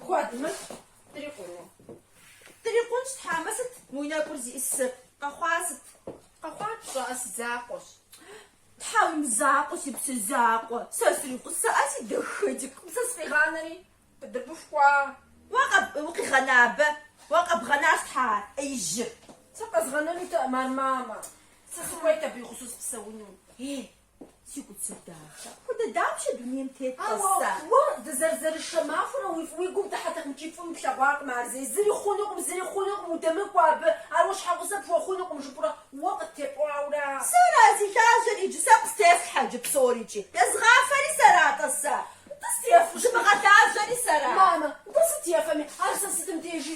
Куэд мыщ, дрикъуну. Дрикъунщ, тхьэмэ сыт мы уи нэкӏур зиӏысыр? Къэхъуа сыт? Къэхъуар пщӏэӏэ си закъуэщ. Тхьэ, уи мызакъуэ, си псэ закъуэ, сэ сригъусэӏэ, си дэхэдик, Мусэ сыкъигъанэри. Дыбыфхуа? Уэ къэб, укъигъэна абы? Уэ къэбгъэнащ тхьэ ар, ӏеижьыр. Сэ къэзгъэнэнутэӏым ар, мамэ. Сэ сыхуейт абы и гъусэу сыпсэуну. Е, Си куцыр дахэ. Апхуэдэ дапщэ дунейм тетӏэ сэ? Ауэ уэ дызэрызэрышэ махуэрэ уи фӏ уи гум дыхьэтэкъым икӏи фӏым плъэгъуакъым ар зэи. Зыри хъунукъым, зыри хъунукъым, удэмыкӏуэ абы, ар уэ щхьэгъусэ пхуэхъунукъым жыпӏурэ уэ къыттепӏуаура? Сэра зи лажьэр иджы сэ къыстелъхьэ иджы псорикӏи? Езыгъафэри сэра-тӏэ сэ? Нтӏэ сыт ефу? Зымыгъэлажьэри сэра? Мамэ, нтӏэ сыт ефэми? Ар сэ сытым дежи?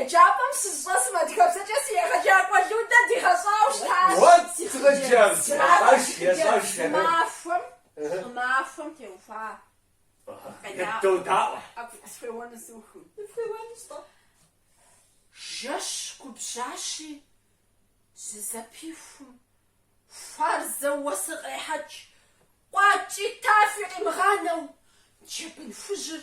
Еджапӏэм сыщӏэсым адыгэбзэкӏэ си егъэджакӏуэ Людэ дигъэщӏауэ щытащ. Си хъыджэбз щӏымахуэм щӏымахуэм теухуа къедаӏуэ. Къысхуеуэну сухым. Фхуеуэнущ тӏэ. Жэщ губжьащи, зызэпихум, хуарзэу уэсыр кърехьэкӏ, къуакӏи тафи къимыгъанэу, джэбын хужьыр